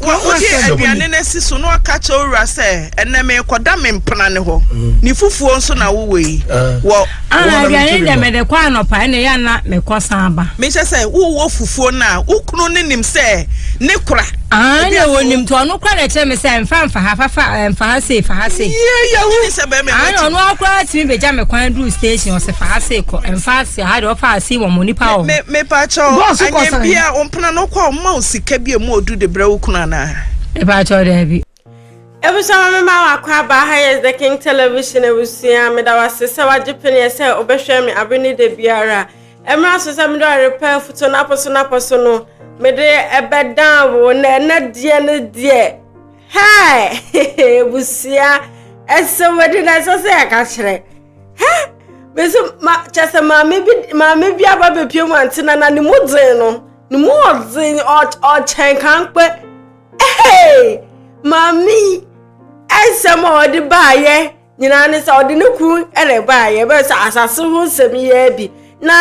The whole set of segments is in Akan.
Wakoyi aduane no asi so na waka akyerɛ wo wura sɛ, Ɛnnɛ merekɔda me mpena no hɔ. Ne fufuo nso na wowɔ yi. Wɔ. Aa, aduane no deɛ mede kɔ anɔpa, ɛnna ɛyɛ a na mekɔsan ba. Mehyɛ sɛ wowɔ fufuo no a, wo kunu no nim sɛ ne kora. Aa, na wɔnim to ɔno kora na ɛkyerɛ me sɛ mfa mfa ha, fa fa, mfa ha sei, fa ha sei. Yie yɛ wo. Aa, na ɔno akora tumi bɛgya me kwan duru station, ɔsɛ fa ha sei kɔ, mfa ha sei, ha deɛ ɔfa ha sei wɔ mo nipa wɔ. Me, me, me pa kyɛw. Bɔɔso kɔsan. pena no kɔ ɔma wo sika bi a mu odu de brɛ wo kunu anaa? Mepakyɛw daabi. Ebusua ma me ma wakɔ aba ha yɛ The King Television ebusua meda wase sɛ wagye peneɛ sɛ wobɛhwɛ me abe ne da biara ɛmra so sɛ mede ɔrepɛ afutuo no apɔ so no apɔ so no mede ɛbɛdan wo na ɛnɛ deɛ no deɛ hɛɛ ebusua ɛsɛ wadi na ɛsɛ sɛ yɛka kyerɛ hɛ mese ma kyɛ sɛ maame bi maame bi aba bɛpie mu ante na na ne mu dzen no ne mu ɔdzen ɔkyɛn kankpɛ hey maame yi ɛnsɛm a ɔde baayɛ nyinaa ne sɛ ɔde ne kuru ɛna baayɛ bɛyɛ sɛ asase ho nsɛm yɛ bi na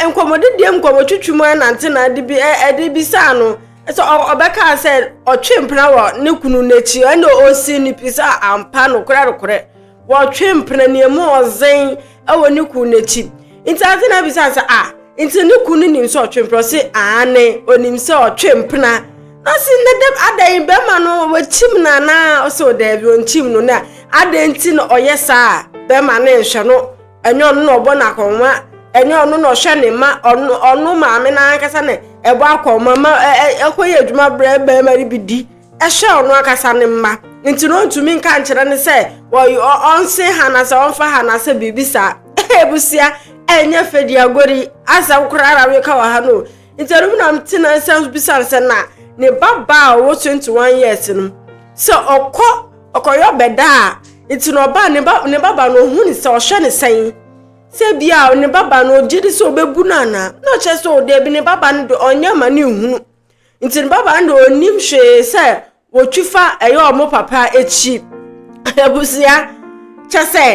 nkɔmɔdedeɛ mu nkɔmɔtwitwi mu ɛnante na ɛde bi ɛde bi saa no ɛsɛ ɔbɛka sɛ ɔtwe mpena wɔ ne kunu n'akyi ɛna ɔsi ne pi sɛ ampa nokorɛ nokorɛ Wɔtwe mpena nea mu ɔdzen wɔ ne kun no ekyir. Ntsi adze na abisa no sɛ, Ah, ntsi no kun no nim sɛ ɔtwe mpena? Ɔse, Aane, onim sɛ ɔtwe mpena. Na ɔse, Na dɛm adɛn, bɛrima no oekyim no anaa? Ɔse, O dabi, onnkyim no. Na adɛn ntsi na ɔyɛ saa? Bɛrima no nnhwɛ no, nnyɛ ɔno na ɔbɔ no akɔnhoma, nnyɛ ɔno na ɔhwɛ ne mma, ɔno maame no ankasa na ɛbɔ akɔnhoma ma ɔkɔyɛ edwuma brɛ bɛrima no bi di. Ɛhyɛ ɔno ankasa ne mma nti na ɔntumi nka nkyerɛ no sɛ ɔnse ha na sɛ ɔmfa ha na sɛ biribi saa. Abusua ɛnyɛ fɛdi agori asɛm koraa na meka wɔ ha no. Nti ɛno mu na mete na nsa bisa no sɛ na ne ba ba a ɔwɔ 21 years no sɛ ɔkɔ ɔkɔyɔ bɛda a nti na ɔba ne ba ne baba no ɔhu ne sɛ ɔhwɛ ne sɛn sɛ bia ne baba no ɔgye de sɛ ɔbɛbu no anaa na ɔkyerɛ sɛ ɔda bi ne baba no de ɔnyɛ ma ne nhunu Nti no baba no de ɔnnim hwee sɛ wɔtwi fa ɛyɛ ɔmo papa akyi abusua kyɛ sɛ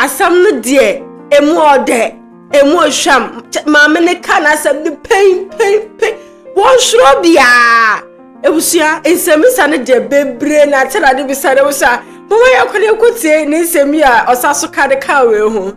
asɛm no deɛ emu ɔdɛ emu ɔhwam maame no ka n'asɛm no pɛnpɛnpɛn wɔnhwerɛ biara abusua nsɛmmisa no deɛ bebree na akyɛ na ade bisa no abusua mo wɔyɛ kwan ɛkɔtie ne nsɛm yi a ɔsa so ka no ka wei ho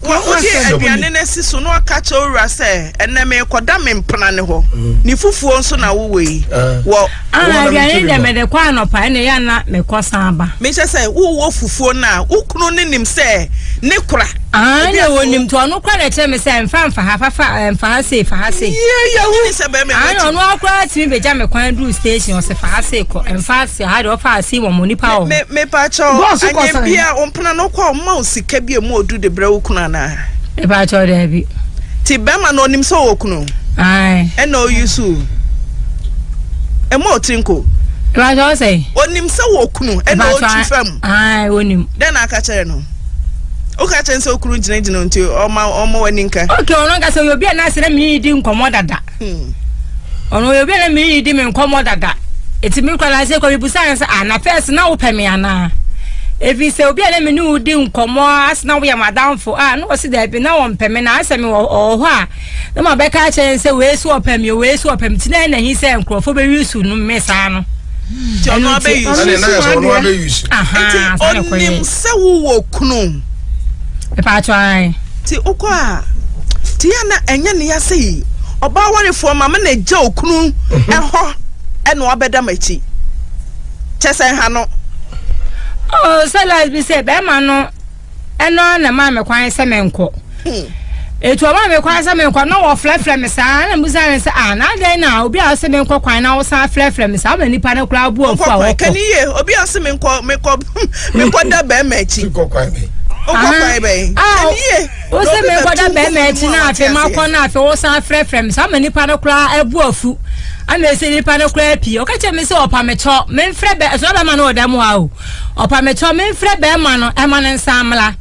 Wɔ wode aduane no asi so na ɔka kyerɛ wo wura sɛ, Ɛnnɛ merekɔda me mpena no hɔ, ne fufuo nso na wowɔ yi. Wɔ. Ana aduane dɛ mede kɔ anɔpa ɛna yɛ ana mekɔ san ba. Mehyɛ sɛ wowɔ fufuo no a, wo kunu no nim sɛ ne kora. Ana wɔnim to ɔno kora na ɛkyerɛ me sɛ mfa mfa ha fafa mfa ha sei fa ha sei. Ana ɔno akora tumi bɛgya me kwan duru station ɔsɛ fa ha sei kɔ mfa ase ha deɛ ɔfa ase wɔ mo nipa wɔ. Mepa kyɛw anyɛ bia ɔpena no kɔ ɔma wo sika bi emu odu de brɛ wo kunu anaa. ɛbɛ akyɛw dɛ bi. ti bɛrima no onim sɛ ɔwɔ kunu. ɛna oyi so ɛmu ɔtiri nko. ɛbɛ akyɛw sɛ. onim sɛ wɔ kunu ɛna ɔtwi fam. onim. dɛ na aka kyerɛ no. woka kyerɛ sɛ okunu gyinagyina nti ɔma ɔma wani nka. ok ɔno nka sɛ obi a na asɛrɛ mi di nkɔmɔ dada. Hmm. Ɔno yɛ obi a na me ne di me nkɔmmɔ dada. Eti me kura na ase kɔ mi busa ne sɛ ah na fɛs na wopɛ me anaa? Efi sɛ obi a na me ne wo di nkɔmmɔ ase na woyɛ madamfo ah na ɔsi dɛbi na wɔmpɛ me na asɛ me wɔ hɔ a na ma bɛka akyerɛ sɛ wei so ɔpɛ me wei so ɔpɛ me ti na ɛna hi sɛ nkurɔfo bɛyi su no me saa no. Ti ɔno abɛyi su. Ɛna ɛna yɛ sɛ ɔno abɛyi su. Aha saa na kɔ yɛ. Eti onim sɛ wowɔ kunu. Ɛpa atwa ayi. Nti wokɔ a nti yɛ na ɛnyɛ ne ya sei ɔbaa warefoɔ ma me na gya okunu ɛhɔ ɛna wabɛda m'akyi kyɛ sɛ ha no. Oh, sɛ last bi sɛ bɛrima no ɛno na maa me kwan sɛ menkɔ ɛtu hmm. ɔma me kwan sɛ menkɔ na wɔfrɛfrɛ me saa na mbusa ne sɛ ah na adɛn na obi a ɔse menkɔ kwan na wosan frɛfrɛ me saa ma nnipa no koraa bu afu a wɔkɔ obi a ɔse menkɔ mekɔda bɛrima akyi wokɔ kwan bɛn ɛnie wo sɛ mekɔda bɛrima akyi na afei makɔ no afei wo san frɛfrɛ me saa ma nipa no koraa abu afu ana ɛsɛ nipa no koraa pii ɔka kyerɛ me sɛ ɔpa mekyɔ memfrɛ bɛ ɛsɛ bɛrima no ɔda mu a o ɔpa mekyɔ memfrɛ bɛrima no ɛma no nsa mmla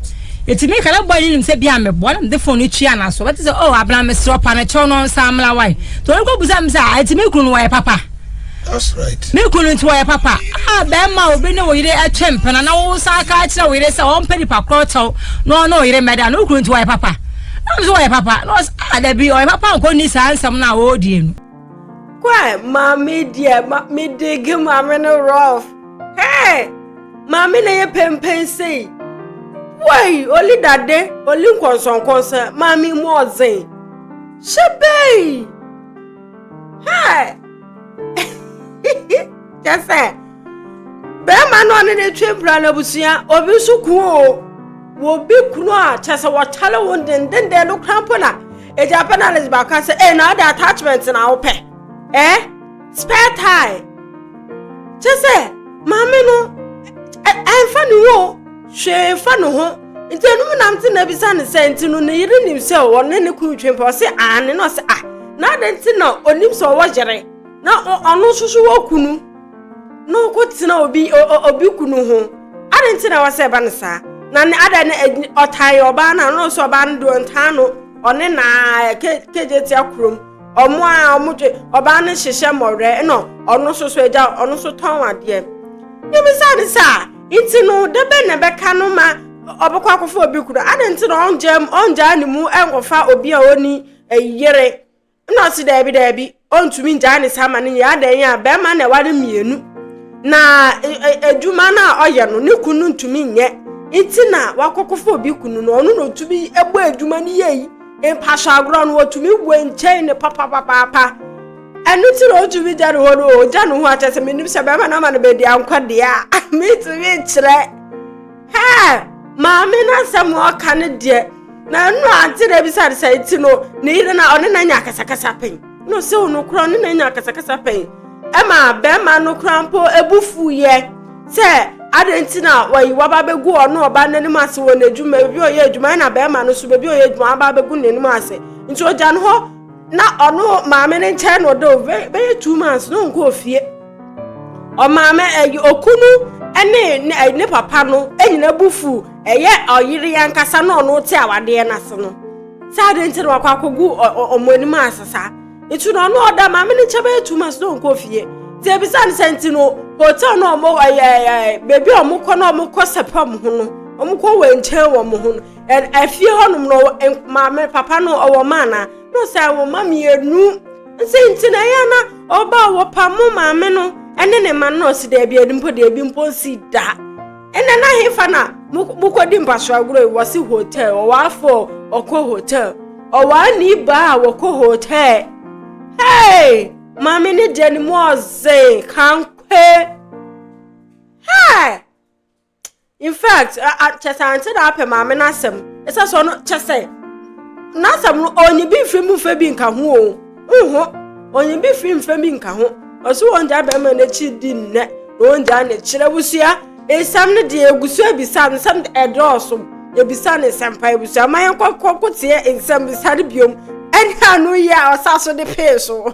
ɛti meka na bɔɔ ne nim sɛ bia meboa na mede fon no tua no so bɛte sɛ o abena meserɛ ɔpa no kyɛw no nsa mmla wae nti ɔrekɔbu sɛ me sɛ ɛti me kunu no wɔyɛ papa That's right. Ne kunu nti wɔyɛ papa. A bɛrima a obi ne wo yere atwa mpena na wo san ka kyerɛ wo yere sɛ ɔmpɛ nipa korɔ kyɛw na ɔne wo yere mmɛda no wo kunu nti wɔyɛ papa. Na nso wɔyɛ papa na ɔsɛ a ah, dabi ɔyɛ papa nkɔ ni saa nsɛm no a wɔredie no. Kwae maame deɛ ma medege maame no rough. Hey! Maame na yɛ pɛmpɛn sei. Wei oli dade oli nkɔnsɔnkɔnsɔn maame mu ɔdzen. Hyɛ bɛyi. kyɛ sɛ bɛrima no ɔne ne twe mpira no abusua obi nso ku o wɔbi kunu a kyɛ sɛ wɔkyale wo dendenden no kora mpo na ɛgya pɛ na alex baaka sɛ e na ɔde attachment na wopɛ ɛ spare tie kyɛ sɛ maame no ɛmfa ne wo hwee mfa ne ho nti ɛno mu nam te na bisa ne sɛ nti no ne yere nim sɛ ɔne ne kunu twe mpɛ ɔse aane na ɔse ah na adɛn nti na ɔnim sɛ ɔwɔ yere na ɔno nso so wɔ kunu na ɔkɔ tena obi obi kunu ho adɛn nti na wɔsɛ ɛba no saa na ne adɛn ne ɔtan ɔbaa no a ɔno nso ɔbaa no deɛ ɔntaa no ɔne na kegye tia kurom ɔmo a ɔmo dwe ɔbaa no hyehyɛ mmɔwerɛ ɛna ɔno nso so agya ɔno nso tɔn adeɛ yɛmisa ne sɛ a Nti no, da bɛn na ɛbɛka no ma ɔbɛkɔ akɔfa obi kunu? Adɛn nti na ɔngyaa ne mu nkɔfa obi a ɔni yere? Ɛna ɔse daabi daabi, ɔntumi ngyaa ne saa ma no nyɛ. Adɛn a bɛrima na ɛware mmienu. Na adwuma no a ɔyɛ no, ne kunu ntumi nyɛ. Nti na wakɔkɔfa obi kunu no, ɔno na ɔtumi bɔ adwuma no yie. Mpaso agorɔ no, ɔtumi wɔ nkyɛn ne papapapaapa. Ɛno nti na ɔtumi gya ne hɔ no ɔgya ne ho akyɛ sɛ menim sɛ bɛma no ama no baabi ankɔ deɛ a metumi nkyerɛ hɛ maame no asɛm a ɔka no deɛ na ɛno ante na bisa no sɛ nti no ne yere no ɔne na nya akasakasa pɛn na ɔsɛ wo no korɔ ɔne na nya akasakasa pɛn ɛma bɛrima no kora mpo ɛbu fuiɛ sɛ adɛn nti na wayi waba bɛgu ɔno ɔba n'anim ase wɔ n'adwuma bi ɔyɛ adwuma ɛna bɛrima no so baabi ɔyɛ adwuma aba bɛgu n'anim ase nti ɔgya no hɔ na ɔno maame ne nkyɛn na ɔda o bɛyɛ two months na ɔnkɔɔ fie ɔmaame ɛyɛ okunu ɛne ne papa no ɛnyina bu fu ɛyɛ ɔyere yankasa na ɔno te awadeɛ no ase no saa de nti na wakɔ akɔgu ɔmo anim ase saa nti na ɔno ɔda maame ne nkyɛn bɛyɛ two months na ɔnkɔɔ fie nti ebisa ne sɛ nti no hotel na ɔmo ɛyɛ ɛyɛ beebi a ɔmo kɔ na ɔmo kɔ sɛpɛ ɔmo ho no ɔmo kɔ wɔ nkyɛn wɔ ɔmo ho no afie hɔnom no maame papa no ɔwɔ ma anaa na ɔsɛ wɔ ma mmienu nse nti na ɛyɛ na ɔba wɔpa mo maame no ɛne ne ma no ɔsi dɛbi ɛdi mpo deɛ ebi mpo nsi da ɛnna na hefa na mokɔdi mpaso agorɔ yi wɔsi hotel ɔwɔ afɔ ɔkɔ hotel ɔwɔ ani baa wɔkɔ hotel hey maame ne deɛ ne mu ɔze kankwe hey. in fact kyɛ sɛ ante na apɛ maame no asɛm ɛsɛ sɛ ɔno kyɛ sɛ n'asɛm no ɔnye bi mfiri mu mfɛ bi nka ho o nho ɔnye bi firi mfɛ bi nka ho ɔso wɔn gya bɛrima n'akyi di nnɛ na wɔn gya ne kyerɛ busua nsɛm no deɛ egu so ebisa no nsɛm ɛdɔɔso ebisa ne nsɛmpa ebusua ma yɛn kɔkɔ kɔteɛ nsɛm bisa no biom ɛne ano yɛ a ɔsa so de pee so.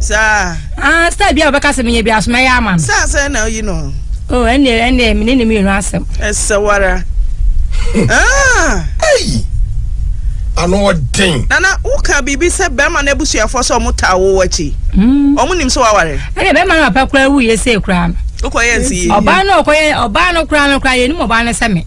Saa. Ah, star bi a wɔbɛka sɛ meyɛ bi aso mɛyɛ ama no. Saa sɛ na oyi no. Oh, ɛnde ɛnde me ne ne mmienu asɛm. Ɛsɛ wara. Ah. Ei. Ano ɔden. Nana, woka biribi sɛ bɛrima no abusuafoɔ sɛ ɔmo taa wo akyi. Hmm. Ɔmo nim sɛ waware. Ɛnde bɛrima no papa koraa wuyɛ sɛ koraa no. Wokɔyɛ nsi yie. Ɔbaa no ɔkɔyɛ ɔbaa no koraa no koraa yɛ nim ɔbaa no sɛ me.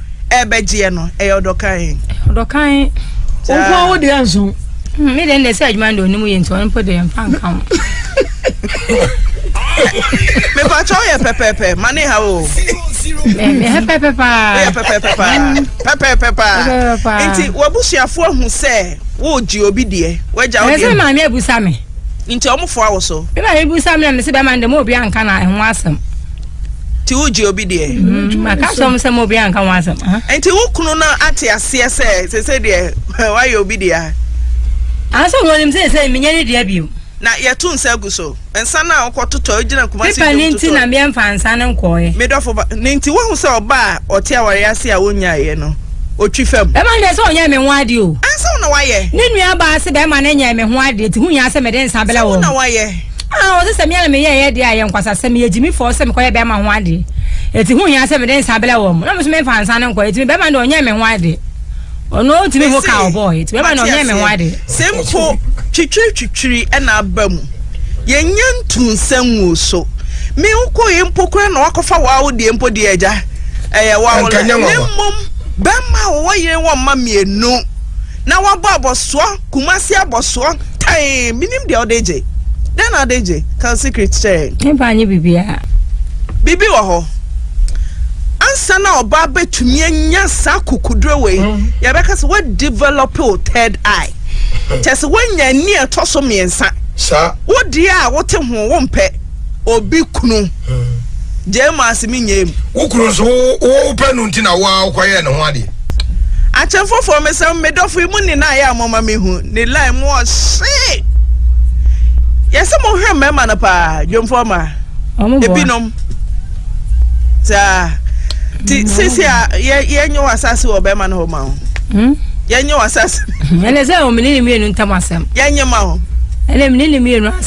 ɛbɛgyeɛ no ɛyɛ ɔdɔ kan. ɔdɔ kan. wo nko a wo deɛ nso. Hmm, me deɛ ndɛ sɛ adwuma ndɛ onimu yɛ nti ɔno mpo deɛ mfa nka ho. mepatwa woyɛ pɛpɛpɛ ma ne ha o ɛyɛ pɛpɛpɛ paa woyɛ pɛpɛpɛ paa hmm. pɛpɛpɛ paa nti wabusuafoɔ ahu sɛ wogye obi deɛ wagya wodeɛ ɛsɛ maame abusa me nti ɔmofoa wo so me maame busa me na mese bɛma ndɛ ma obi anka na ɛho asɛm nti wogye obi deɛ mm, maka sɛ m sɛ ma obi anka ho asɛm nti wo kunu no ate aseɛ sɛ sɛ sɛ deɛ woayɛ obi deɛ a asɛ wɔnim sɛ sɛ menyɛ ne deɛ bio na yɛto nsa gu so nsa no a wokɔtotɔ wogyina kumapepa ne nti na meɛmfa nsa no nkɔɔɛ medɔfo ba ne nti wohu sɛ ɔba a ɔte awareɛ ase a wonyaeɛ no ɔtwi fam bɛma no deɛ sɛ ɔnyɛ me ho adeɛ o ɛnsɛ wo na woayɛ ne nnuabaa se bɛma no nyɛ me ho adeɛ nti ho hia sɛ mede nsa bɛlɛ wɔ na woayɛ Ah, ɔsɛ sɛ me ara meyɛ yɛ deɛ a yɛ nkwasa sɛ meyɛ gyimifɔɔ sɛ mekɔyɛ bɛrima ho adeɛ. Eti ho hia sɛ mede nsa brɛ wɔn. Na me nso memfa nsa no nkɔ. Eti me bɛrima deɛ ɔnyɛ me ho adeɛ. Ɔno ɔtumi ho ka ɔbɔɔ. Eti me bɛrima deɛ ɔnyɛ me ho adeɛ. Sɛ mpo twitwiritwitwiri na aba mu, yɛnyɛ ntu nsa ngu so. Me wokɔe mpo koraa na wakɔfa wawo deɛ mpo deɛ agya ɛyɛ wawo la. Ne mmom bɛrima a wɔwɔ yere wɔ mma mmienu na wabɔ abɔsoɔ. Kumasi abɔsoɔ tann menim deɛ wode gye Dɛn na wode gye? Ka wo secret kyerɛ yɛn. Me ba nye biribiara. Biribi wɔ hɔ. Ansa na ɔbaa bɛtumi anya saa kukuduro wei, yɛbɛka sɛ woadevelop wo third eye. Kyerɛ sɛ woanya ani a ɛtɔ so mmiɛnsa. Saa. Wo deɛ a wote ho wompɛ. obi kunu gyee mu ase menyɛɛ mu. Wo kunu nso wopɛ no nti na wo a wokɔyɛɛ ne ho adeɛ. Akyɛ foforɔ me sɛ me dɔfo yi mu nyinaa yɛ a moma mehu ne line mu ɔhye. Yɛsɛ mo hwɛ mmarima no paa dwomfoɔ ma ebinom saa ti sisi a yɛnyɛ wɔ asase wɔ bɛrima no hɔ ma ho. Hmm? yɛnyɛ wɔ asase. ɛnɛ sɛ ɔmene ne mmienu ntam asɛm. yɛnyɛ ma ho. ɛnɛ mene ne mmienu asɛm.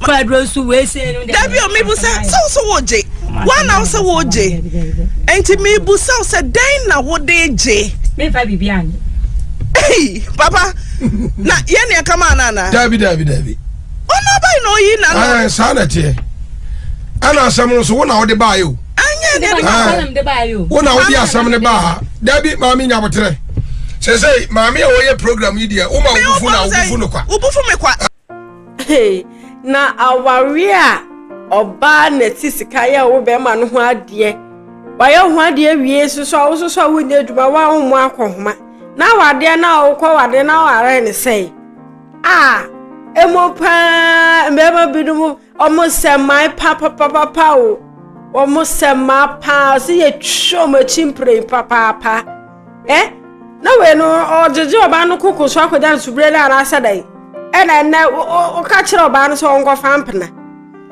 dabi o mebu sɛ sɛ wo sɛ wogye woana wo sɛ wogye enti mebu sɛ wo sɛ dɛn na wode gye mefa biribi anye papa na yɛn nea kama ana ana dabi dabi dabi ɔno abayi na oyi na no saa na teɛ ɛna asɛm no so wo na wode baayɛ o wo na wode asɛm no baa dabi maame nya boterɛ sɛ sɛ maame a wɔyɛ program yi deɛ woma wobufu na wobufu no kwa na awareɛ a ɔbaa na ɛte sika yɛ wo bɛrima no ho adeɛ wayɛ ho adeɛ wie nso so a wososo a wonyɛ adwuma woahomo akɔhoma na awadeɛ no a wokɔ wadeɛ no awarɛɛ ne sɛe a ɛmu paa mmarima binom ɔmo sɛ mmaa papapapa o ɔmo sɛ mmaa paa sɛ yɛtwa ɔmo akyi mprɛn papaapa ɛ na wei no ɔgyegye ɔbaa no koko so akɔgya no subire no anaasɛ dɛn ɛna ɛnɛ woka kyerɛ ɔbaa no sɛ ɔnkɔfa mpena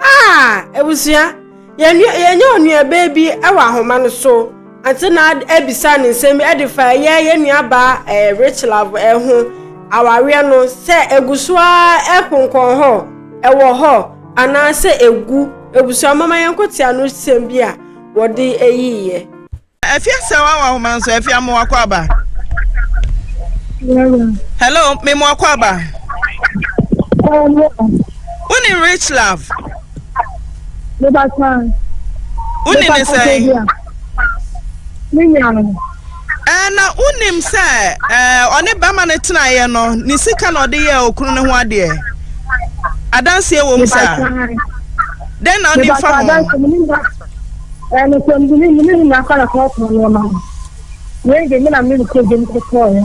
a abusua yɛnyɛ onuabaa bi wɔ ahoma no so ante na abisa ne nsɛm bi ɛde fa ɛyɛ yɛn nuabaa ɛɛ rich love ɛho awareɛ no sɛ egu so ara ɛkonkɔn hɔ ɛwɔ hɔ anaasɛ egu abusua mama yɛn kɔte ano sɛm bi a wɔde ɛyiiɛ. Afia sɛ wa wa homa nso afia mo wakɔ aba. Hello, me mo wakɔ aba. Wo ni rich love. Mo ba san. Wo ni ne sɛ. Me nya no. Ɛɛ na wo nim sɛ ɛɛ ɔne bɛma ne tena yɛ no ne sika na ɔde yɛ okunu ne ho adeɛ. Adanseɛ wɔ mu saa. Dɛn na ɔnim fa ho. Ɛɛ, nokwamdini mu no nyinaa kɔ na kɔɔpɔn nneɛma no. Wei de, me na mede kogye no kɔtɔeɛ.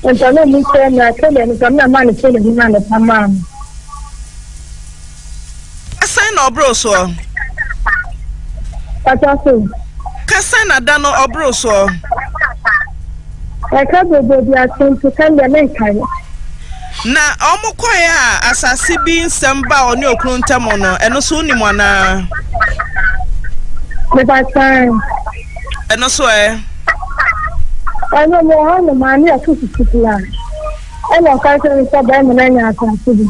Anka na ɔmu sɛ na sɛdeɛ no sɛ me na maa no sɛdeɛ me maa no pa maa no. Sɛn na ɔboro soɔ? Pata so. Ka sɛn na da no ɔboro soɔ? Ɛka bobo bi ato nti ka deɛ menkae. Na wɔkɔe a asase bi nsɛm baa ɔne okunu ntam no, ɛno nso wonim anaa? Mepakyɛ ɛ. Ɛno nso ɛ? Ɛno mo hɔ no maa ne ɛfo sisi kura. Ɛna ɔka kyerɛ no sɛ bɛrima no anya asase bi.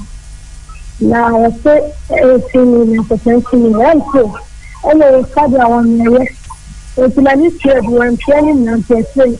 Na ɔse ɛsi ni na kɔkɔ ɛsi ni. Ɛnso ɛna ɔyɛ sade a wɔn ɛyɛ. Ɛti na ne tua bi wɔn tua ne nyinaa nti ɛsere.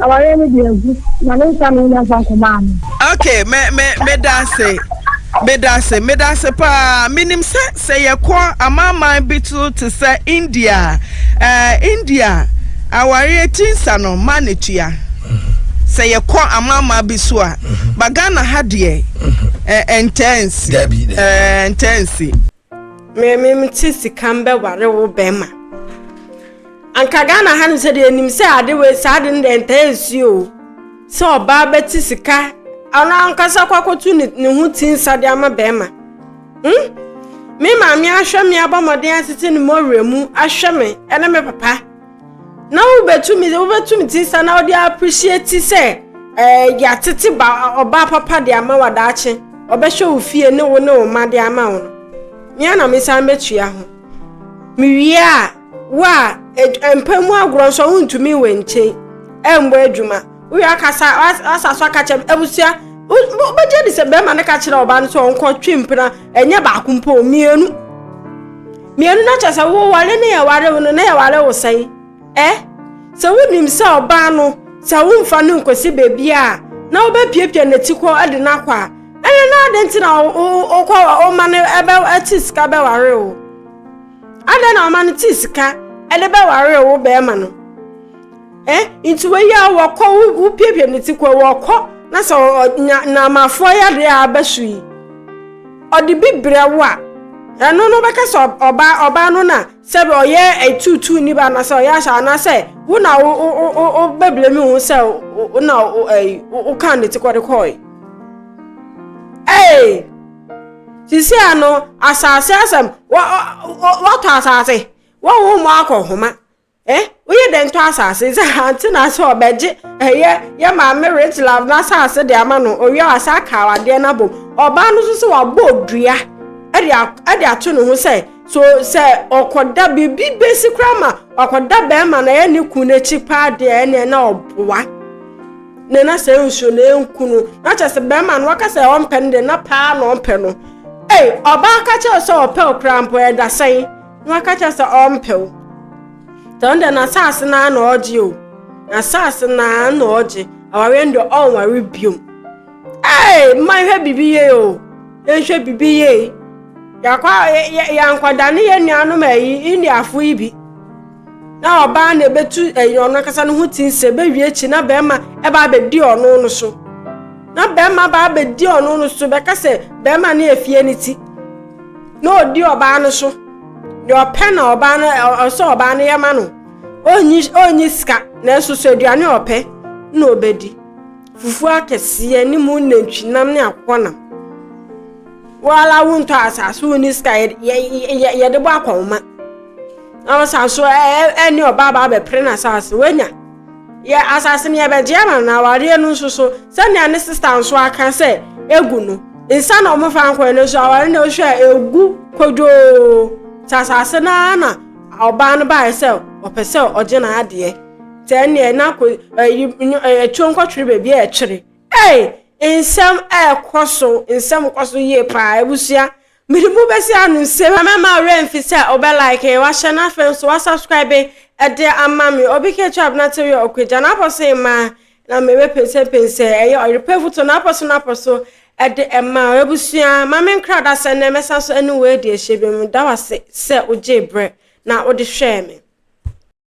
Awareɛ no deɛ agu na ne nsa na ɔnya nsa nkɔmaa no. Okay, me me meda ase. Meda ase, meda ase paa. Menim sɛ sɛ yɛkɔ amanaman bi so te sɛ India a, eh, India awareɛ ti nsa no ma ne tua. Sɛ yɛkɔ amanaman bi so a, ba Ghana ha deɛ ɛntɛnsi. Ɛntɛnsi. Me me me te sika mbɛware wo bɛrima. Anka Ghana ha no sɛ deɛ nim sɛ ade wei saa ade no deɛ ntaa nsi o. Sɛ ɔbaa bɛte sika ɔno ankasa kɔ akɔto ne ne ho ti nsa de ama bɛrima. Hmm? Me maame ahwɛ me abɔ mmɔden atete ne mɔwerɛ mu ahwɛ me ɛne me papa. na wobɛtumi wobɛtumi ti sa na wode appreciate sɛ ɛɛ eh, yɛatete ba ɔbaa papa de ama wa daakye ɔbɛhwɛ wo fie ne wo ne wo ma de ama wo no mea na mesan bɛtua ho mewie a wo a e, mpa mu agorɔ nso wontumi wɔ nkyɛn ɛmbɔ adwuma Woyɛ akasa asa so aka kyerɛ abusua wobɛgye di sɛ bɛrima no ka kyerɛ ɔba no sɛ ɔnkɔtwe mpena ɛnyɛ baako mpo mmienu mmienu no kyerɛ sɛ woware ne yɛware wo no na yɛware wo sɛn ɛ sɛ wonim sɛ ɔbaa no sɛ womfa no nkɔsi baabi a na wobɛpiapia n'akyi kɔ de no akɔ a ɛne na ade nti na wokɔ ɔma no ɛte sika bɛware wo adɛn na ɔma no te sika ɛde bɛware wo bɛrima no Eh, nti wei a wɔkɔ wopiapia ne ti kɔ wɔkɔ na sɛ ɔnya nnaamafoɔ yadeɛ a aba so yi ɔde bi brɛ wo a ɛno no bɛka sɛ ɔbaa ɔbaa no na sɛ ɔyɛ ɛtuutuu ni ba anasɛ ɔyɛ ahyɛ anasɛ wo na wo wo wo wo bɛbrɛ mi ho sɛ wo na wo ɛyi wo wo kan ne ti kɔ de kɔɔe ɛɛ sisi ano asaase asɛm wɔ wɔ wɔtɔ asaase wɔn wɔn mu akɔ homa. ɛ woyɛ dɛn tɔ asase sɛ ante na sɛ ɔbɛgye ɛyɛ yɛ maame rich love na asase de ama no owia wasa aka awadeɛ no abom ɔbaa no nso sɛ wabɔ odua ɛde ato ne ho sɛ so sɛ ɔkɔda biribi bɛsi koraa ma ɔkɔda bɛrima na ɛyɛ ne kun n'akyi paa deɛ ɛneɛ na ɔboa na na sɛ nsuo na ɛnku no na kyɛ sɛ bɛrima no waka sɛ ɔmpɛ no deɛ na paa na ɔmpɛ no ei ɔbaa ka kyɛw sɛ ɔpɛ ɔkora mpo ɛda sɛn Na waka kyerɛ sɛ ɔmpɛ wo. Sɛ ɔno deɛ n'asaase no ara na ɔgye o. N'asaase no ara na ɔgye. Awareɛ no deɛ ɔnware biom. Ee, mma nhwɛ biribi yie o. Yɛnhwɛ biribi yie. Yɛakɔ yɛankɔda ne yɛn nuanom ayi Indiafo yi bi. Na ɔbaa na ɛbɛtu ɛyi ɔno ankasa no ho ti nsɛ bɛwie akyi na bɛrima ɛbaa bɛdi ɔno no so. Na bɛrima baa bɛdi ɔno no so bɛka sɛ bɛrima no yɛ fie no ti. na ɔdi ɔbaa no so deɛ ɔpɛ na ɔbaa no ɔsɛ ɔbaa no yɛ ma no ɔnyi ɔnyi sika na ɛso so aduane ɔpɛ na ɔbɛdi fufuo akɛseɛ ne mu nantwinam ne akokɔnam wɔala wontɔ asase wo ne sika yɛde bɔ akɔnma na ɔsan so ɛne ɔbaa baa bɛpere no asase woanya Yɛ asase no yɛbɛgye ama no na awareɛ no nso so sɛnea ne sista nso aka sɛ egu no nsa na wɔn fa nkɔɛ no so aware no hwɛ a egu kodwoo sɛ asase no ara na ɔbaa no baeɛ sɛ ɔpɛ sɛ ɔgye n'adeɛ sɛ ɛneɛ na ko ɛyi ɛtuo nkɔtwere baabi a ɛkyere ɛy nsɛm ɛkɔ so nsɛm kɔ so yie paa abusua Mede bo bɛsi ano nse hwɛ mɛma wo werɛ mfi sɛ wobɛ like, wahyɛ na afei nso wa subscribe de ama me Obi ka atwa abena te wia ɔkwagya n'apɔ so mmaa na me bɛ pensɛ pensɛ ɛyɛ ɔyere pɛ vuto n'apɔ so n'apɔ so de ɛmaa wo Abusua ma me nkra da sɛ nnɛ mɛsan so ɛne wo adi ahyɛ bio Meda wo ase sɛ wogyee berɛ na wode hwɛɛ me.